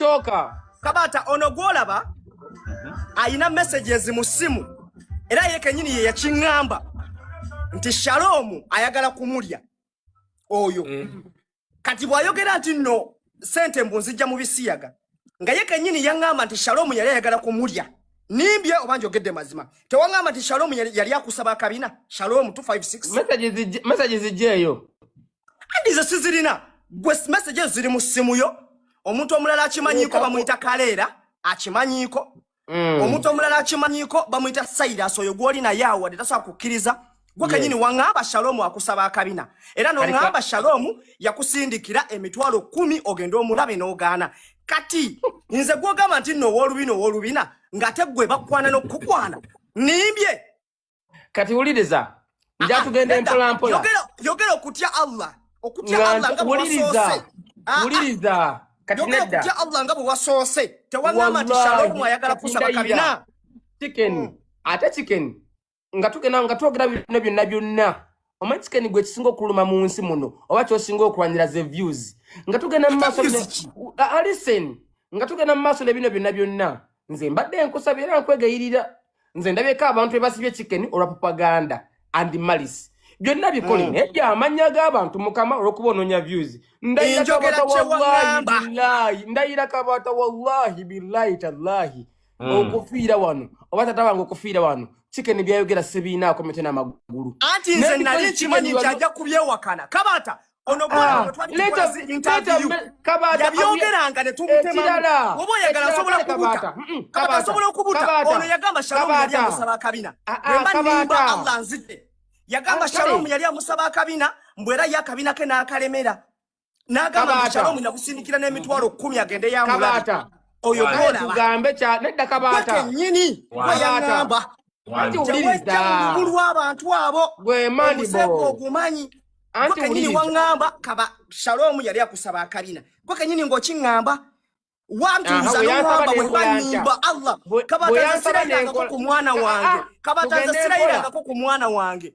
kyoka kabata ono gwolaba alina messages mu simu era ye kenyini ye yakiŋŋamba nti shaloomu ayagala kumulya oyo eh. kati bw'ayogera nti nno sente mbu nzijja mu bisiyaga nga ye kenyini yaŋŋamba nti shaloomu yali ayagala kumulya nimbye oba njogedde mazima tewaŋŋamba nti shaloomu yali akusaba akabina shaloomu 256 messages zijja eyo andi ze sizirina gwe message ezo ziri mu ssimu yo omuntu omulala akimanyiiko bamuyita kaleera akimanyiiko mm. omuntu omulala akimanyiiko bamuyita sairas oyo gwoli naye awade tasobola kukkiriza gwe kenyini waŋŋamba shalomu akusaba akabina era noŋŋamba shalomu yakusindikira emitwalo kumi ogende omulabe n'ogaana kati nze gwogamba nti nno ow'olubina ow'olubina ng'ate gwe bakwana n'okukukwana nimbye kati wuliriza ah, ah, njatugenda empolampola yogera okutya allah okutya allah nga bwewuliriza ah, wuliriza kati nedda okutya allah nga bwewasoose tewagamba nti shalomu ayagala kusaba kabina chicken hmm. ate chicken nga tugenda nga twogera bino byonna byonna omanyi chicken gwe kisinga okuluma mu nsi muno oba kyosinga okulwanira ze views nga tugenda mu maaso alisen ah, ah, nga tugenda mu maaso nebino byonna byonna nze mbadde enkusaba era nkwegayirira nze ndabyeko abantu ebasibye chicken olwa propaganda and malis byonna bikole mm. naye byamanya g'abantu mukama olwokuba ononya views ndayira kabata wallahi billahi ndayira kabata wallahi billahi tallahi mm. okufiira wano oba tata wange okufiira wano chicken byayogera sibiinaako mitwe n'amagulu anti nze nali nkimanyi nti ajja kubyewakana kabaata ono bwatwalyabyongeranga netumutemaoba oyagala asobola kubuta kabata asobola okubuta ono yagamba shalomu yali amusaba akabina emba nimba allah nzidde yagamba shalomu yali amusaba akabina mbu era ye akabina ke n'akalemera n'agamba nti kyalo mwina kusindikira n'emitwalo kkumi agende yamulabi oyo tugambe kya nedda kabaata nyini gwe yangamba anti wuliriza obukulu bw'abantu abo gwe mandibo ogumanyi anti wuliriza gwe wangamba kaba shalom yali akusaba akabina gwe kenyini ng'okingamba wantuuza n'owamba bwe banyimba allah kabatanza sirayirangako ku mwana wange kabatanza sirayirangako ku mwana wange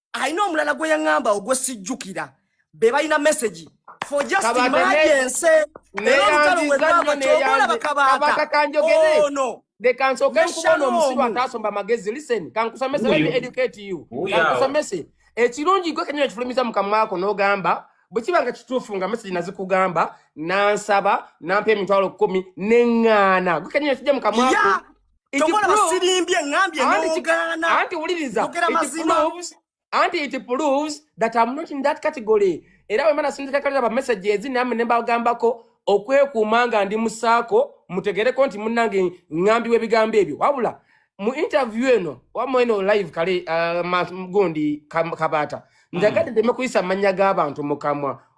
alina omulala gwe yaŋŋamba ogwe sijjukira be balina message for just emergency era olutalo bwe lwava kyokolaba kabaata ono oh, They can so can kuba no musiba taso mba magezi listen can kusa message let me educate you can kusa message ekirungi gwe kenyo kifulumiza mukamwako no gamba bwekiba nga kituufu nga mesegi nazikugamba nansaba nampa emitwalo kumi neŋŋaana gwe kenyo kijja mukamwako Tokola basilimbye ngambye n'ogaana. Anti wuliriza. Tokera mazima. Anti it proves that I'm not in that category. Era wemana sindika kalira ba messages nami ne mbagambako okwekuuma nga ndi musaako mutegereko nti munnange ŋŋambi w'ebigambo ebyo wabula mu interview eno wamma eno live kale uh, gundi kabaata mm. njagadde ddeme kuyisa amannya g'abantu mu kamwa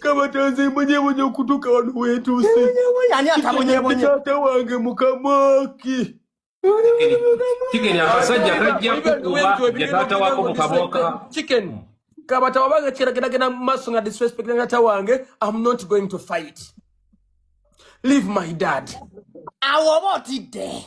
kabatanze mbonyebonye okutuuka wano weetuuse taata wange mukamaki kigeri akasajja kajja kukuba ya taata wako mukaboka kabata wabanga kirageragera mu maaso nga disrespect na taata wange am not going to fight leave my dad awo oba otidde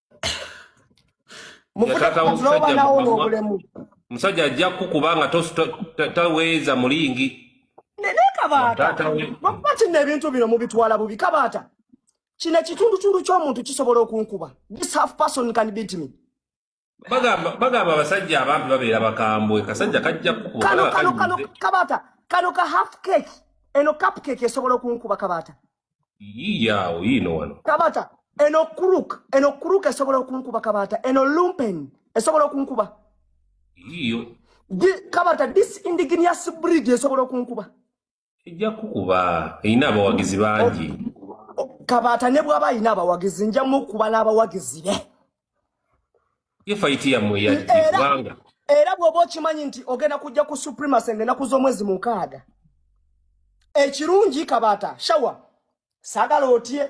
musajja ajja kukuba nga taweeza mulingi naye kabaata lwakuba kino ebintu bino mubitwala bubi kabaata kino ekitundutundu ky'omuntu kisobola okunkuba this half person can beat me bagamba abasajja abambi babeera bakambwe kasajja kajja kukuba kabaata kano ka half cake eno cupcake esobola okunkuba kabaata yaawo yiino wano kabata eno kuruk eno kuruk esobola okunkuba kabata eno lumpen esobola okunkuba yiyo kabata this indigenous breed esobola okunkuba ejja kukuba erina abawagizi bangi kabata ne bwaba alina abawagizi nja mukuba n'abawagizi be ye fayiti yammwe yaki kubanga era bw'oba okimanyi nti ogenda kujja ku supremacy ng'enaku z'omwezi mukaaga ekirungi kabaata shawa sagala otye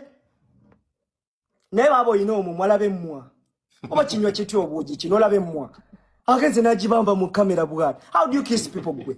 naye baaba olina omumwa laba emmwa oba kinywa kitya obuugi kino olaba emmwa agenze n'agibamba mu kamera bwati how do you kiss people gwe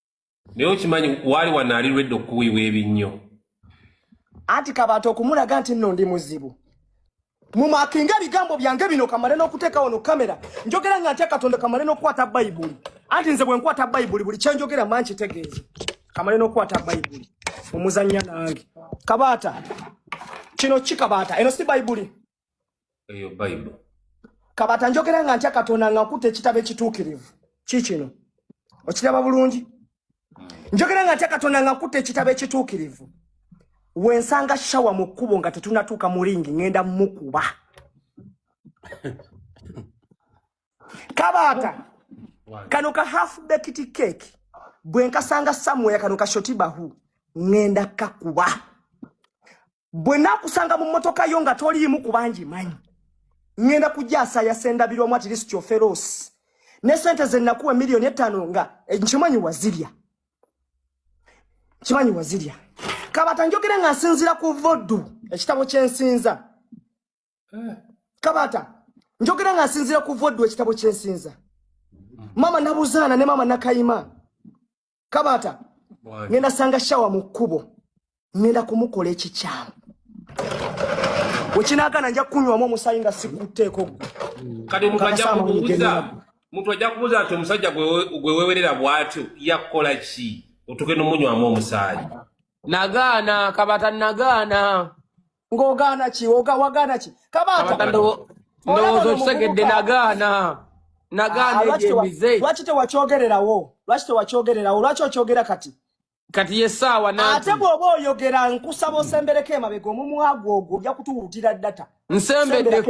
naye okimanyi waali wanaali lwedde okukuwiibwa ebinnyo anti kabantu okumulaga nti nno ndi muzibu mumakinga ebigambo byange bino kamale n'okuteekawo no kamera njogera nga ntya katonda kamale n'okukwata bayibuli anti nze bwe nkwata bayibuli buli kyenjogera ma nkitegeeza kamale n'okukwata bayibuli omuzannya nange kabaata kino ki kabaata eno si bayibuli eyo bible kabata njogera nga ntya katonda nga nkuta ekitabo ekituukirivu kikino okiraba bulungi hmm. njogera nga ntya katonda nga nkuta ekitabo ekituukirivu wensanga shawa mu kkubo nga tetunatuuka mu ringi ŋenda mukuba kabata kano ka half baked cake bwenkasanga samuel kano ka shoti bahu ŋenda kakuba bwe nakusanga mu mmotoka yo nga toliimu kubangi manyi ŋŋenda kugyasaya sendabirwamu at least oferosi ne sente ze nakuwa miliyoni ettaano nga eh, nkimanyi wazirya nkimanyi wazirya kabata njogere nga nsinzira ku vodu ekitabo kyensinza eh. kabata njogere nga nsinzira ku vodu ekitabo kyensinza mama nabuzaana ne mama nakayima kabaata ngenda sanga shawa mu kkubo ngenda kumukola ekikyamu wekinagana nja kunywamu omusaayi nga sikutteeko kati mukajakubuuza muntu ajja kubuuza nti omusajja gwe wewerera bwatyo yakukola ki otuke nomunywamu omusaayi nagaana kabata nagaana ng'ogaana ki oga wagaana ki kabaka Kabaka ndo- Olaba ndowooza ono okitegedde muvubuka. nagaana Ah, nagaana lwaki tewa- ebyemize lwaki tewakyogererawo lwaki tewakyogererawo lwaki okyogera kati kati yesaawa ate nanti bw'oba oyogera nkusaba osembereko emabega omumwa gwo ogwo ojja kutuwulutira data nsembeddeko